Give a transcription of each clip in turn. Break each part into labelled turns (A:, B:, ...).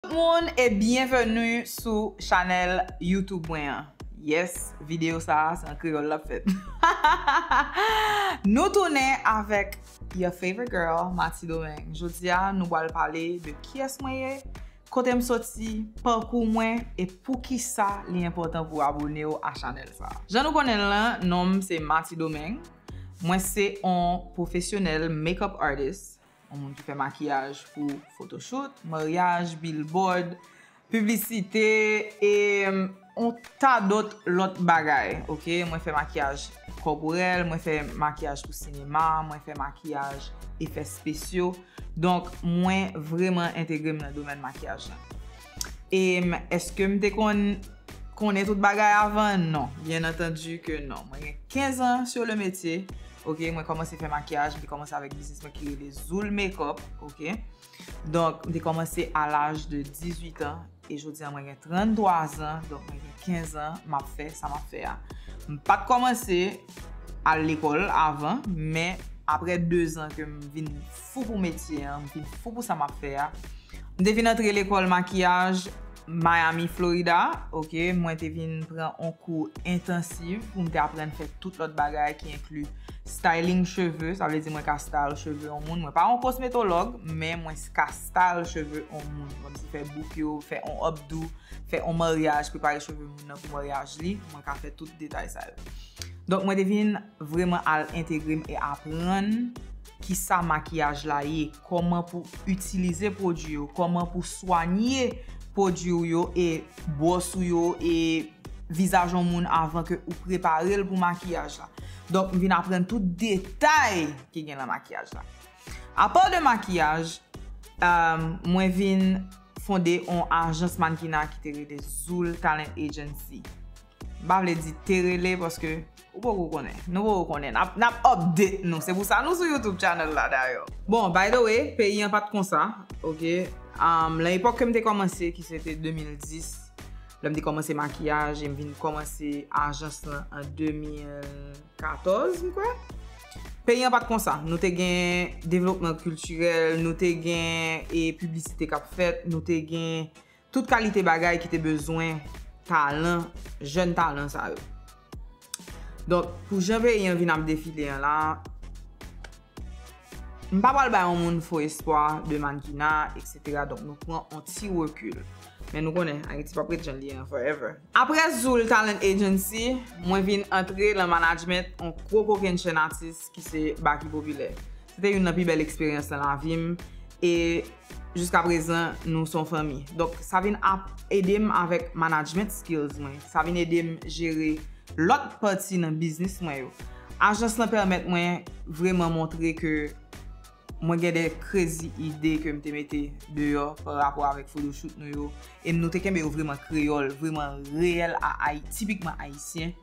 A: Tout moun e byenveni sou chanèl YouTube mwen an Yes video sa a se an kreyòl l ap fèt Nou tounen avèk your favorite girl Mati Domingue Jodi a nou pral pale de kiyès mwen ye Kote m soti Pakou mwen E poukisa li enpòtan pou w abone w a chanèl sa a Jan nou konnen l lan non m se Mati Domingue Mwen se on pwofesyonèl makeup artist Yon moun ki fè makiyaj pou fotochout, maryaj, bilbòd, piblisite e yon ta dòt lòt bagay. Ok, mwen fè makiyaj kòporèl, mwen fè makiyaj pou sinema, mwen fè makiyaj efè spesyo. Donk mwen vreman entegre m nan domèn makiyaj la. Em eske m te konn konnen tout bagay avan? Non. Byen antandi ke non. Mwen gen 15 an sur le metye. Ok, mwen kòmanse fè makiyaj, m te kòmanse avèk biznis mwen ki rele Zoul Makeup. Ok. Donk, m te kòmanse a laj de 18 an. E jodi an mwen gen 33 an. Donk, mwen gen 15 an m ap fè sa m ap fè a. M pa t kòmanse al lekòl avan, men aprè 2 zan ke m vin fou pou metye an, m te fou pou sa m ap fè a. M te vin antre lekòl makiyaj Miami, Florida, ok, mwen te vin pran on kou entansiv pou m te aprann fè tout lòt bagay ki enkli styling cheve, sa vle di mwen ka style cheve on moun, mwen pa on kosmetològ, men mwen ka style cheve on moun, kòm si fè bouk yo, fè on updo, fè on maryaj, prepare cheve moun nan pou maryaj li, mwen ka fè tout detay sa yo. Donk mwen te vin vreman al entegre m e aprann. Kisa makiyaj la ye, kòman pou itilize pwodui yo, kòman pou swanye pwodui ou yo e bwòs ou yo e vizaj yon moun avan ke ou prepare l pou makiyaj la. Donk m vin aprann tout detay ki gen nan makiyaj la. Apa de makiyaj, mwen vin fonde yon ajans mannequinat ki te rele Zoul Talent Agency. M pa vle di te rele paske. Ou poko konnen. Nou poko konnen. Nap update nou. Se pou sa nou sou YouTube channel la dayò. Bon, by the way, peyi an pat konsa. Ok. Lan epòk kem te kòmanse ki se te 2010, lèm te kòmanse makiyaj em vin kòmanse ajans lan an 2014 m kwè. Peyi an pat konsa. Nou te gen devlopman kiltirèl, nou te gen e piblisite kap fèt, nou te gen Tout kalite bagay ki te bezwen talan, jèn talan sa yo. Donk, pou jan peyi an vin ap defile an la, m pa pral bay yon moun fo espwa de mannkina, eksetera, donk nou pran yon ti rekil. Men nou konnen, Ayiti p ap ret jan li ye an forever. Apre Zul Talent Agency, mwen vin antre lan manajment on gwo kokenn chenn atis ki se Baky Popilè. Se te youn lan pi bèl eksperyans lan lavi m e jiska prezan nou son fanmi. Donk sa vin ap ede m avèk manajment skills mwen. Sa vin ede m jere lòt pati nan biznis mwen yo. Ajans lan pèmèt mwen vreman montre ke. Mwen gen de krezi ide ke m te mete deyò pa rapò avèk photoshoot nou yo, e nou te kenbe yo vreman kreyòl, vreman reyèl a Ayi, tipikman Ayisyen.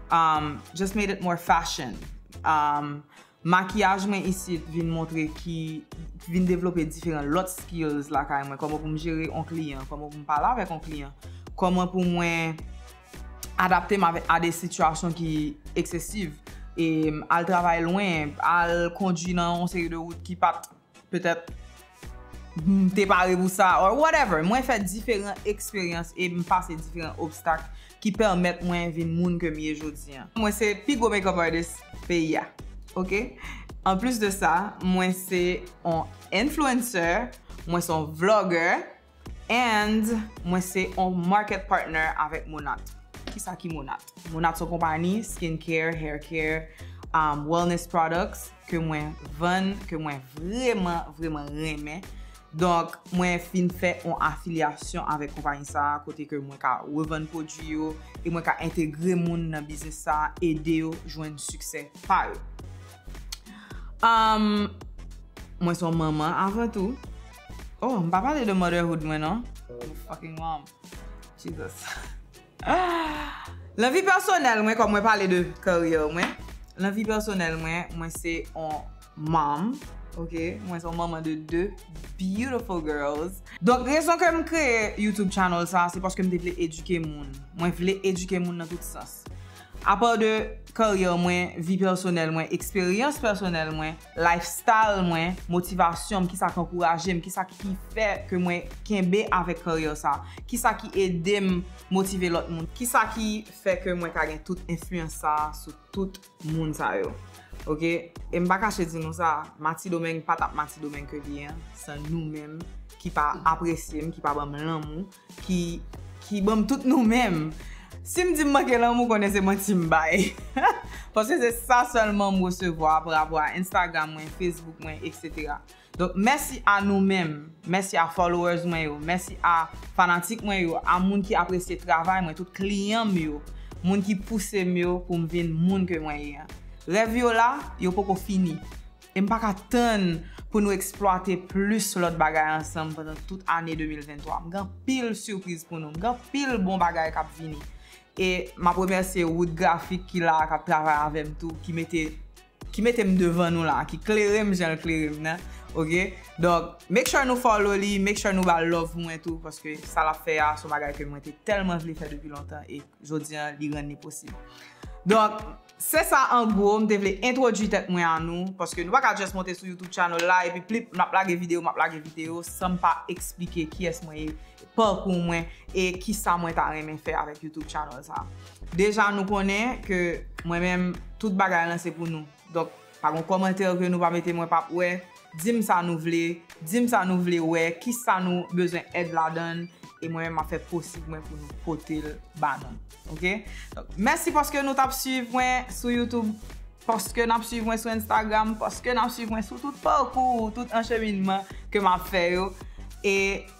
A: Um, just made it more fashion. Um, makiyaj mwen isit vin montre ki, vin devlope diferan lòt skills lakay mwen, kòman pou m jere on kliyan, kòman pou m pale avèk on kliyan, kòman pou mwen. Adapte m a de sitiyasyon ki eksesiv, al travay lwen, al kondwi nan yon seri de wout ki pa t petèt m te pare pou sa or whatever. Mwen fè diferan eksperyans e m pase diferan obstak ki pèmèt mwen vin moun ke m ye jodi an. Mwen se pi gwo makeup artist peyi a ok. An plis de sa, mwen se yon influencer, mwen se yon vlogger. And mwen se on market partner avèk Monat. Kisa ki Monat? Monat son konpani skin care, hair care, wellness products ke mwen vann, ke mwen vreman, vreman renmen. Donk, mwen fin fè on afilyasyon avèk konpani sa a kote ke mwen ka revann pwodui yo e mwen ka entegre moun nan biznis sa a, ede yo jwenn siksè pa yo. Mwen son manman avan tou. Oh m pa pale de motherhood mwen non. Yon fucking mom. Jesus. Lan vi pèsonèl mwen kòm mwen pale de career mwen. Lan vi pèsonèl mwen, mwen se yon mom. Ok. Mwen se yon manman de 2 beautiful girls. Donk rezon ke m kreye YouTube channel sa se paske m te vle edike moun. Mwen vle edike moun nan tout sans. Apa de career mwen, vi pèsonèl mwen, eksperyans pèsonèl mwen. lifestyle mwen, motivasyon m, kisa k ankouraje m, kisa ki fè ke mwen kenbe avèk karyè sa, kisa ki ede m motive lòt moun, kisa ki fè ke mwen ka gen tout enfliyans sa sou tout moun sa yo. Ok, e m pa kache di nou sa, Matidomeng pa t ap Matidomeng ke li ye an san nou menm ki pa apresye m, ki pa ban m lanmou, Ki ki banm tout nou menm. Sim di m manke lanmou konnen se manti m bay. Paske se sa sèlman m resevwa pa rapò a Instagram mwen, Facebook mwen etc. Donk mèsi a nou menm, mèsi a followers mwen yo, mèsi a fanatik mwen yo, a moun ki apresye travay mwen, tout kliyan m yo, moun ki pouse m yo pou m vin moun ke mwen ye an. Rèv yo la, yo poko fini. E m pa ka tann pou nou eksplwate plis lòt bagay ansanm pandan tout ane 2023. M gen anpil sipriz pou nou. M gen anpil bon bagay k ap vini. E m ap remèsye Wood Graphic ki la a, k ap travay avè m tou, ki mete ki mete m devan nou la a, ki klere m jan l klere m nan. Ok? Donk, make sure nou follow li, make sure nou ba l love mwen tou paske sa l ap fè a s on bagay ke mwen te tèlman vle fè depi lontan e jodi an li rann li posib. Donk, Se sa an gwo m te vle entwodwi tèt mwen a nou, paske nou pa ka just monte sou youtube channel la epi plip map lage video map lage video san m pa eksplike kiyès mwen ye, parcours mwen e kisa mwen ta renmen fè avèk youtube channel sa. Deja nou konnen ke mwen menm tout bagay lan se pou nou. Donk. Pa gon kòmantè ke nou pa mete mwen pap wè, dim sa nou vle, dim sa nou vle wè, kisa nou bezwen èd ladann e mwen menm map fè posib mwen pou nou potel ba nou ok. Mèsi paske nou tap swiv mwen sou YouTube, paske nap swiv mwen sou Instagram, paske nap swiv mwen sou tout pakou, tout ancheminman ke map fè yo e.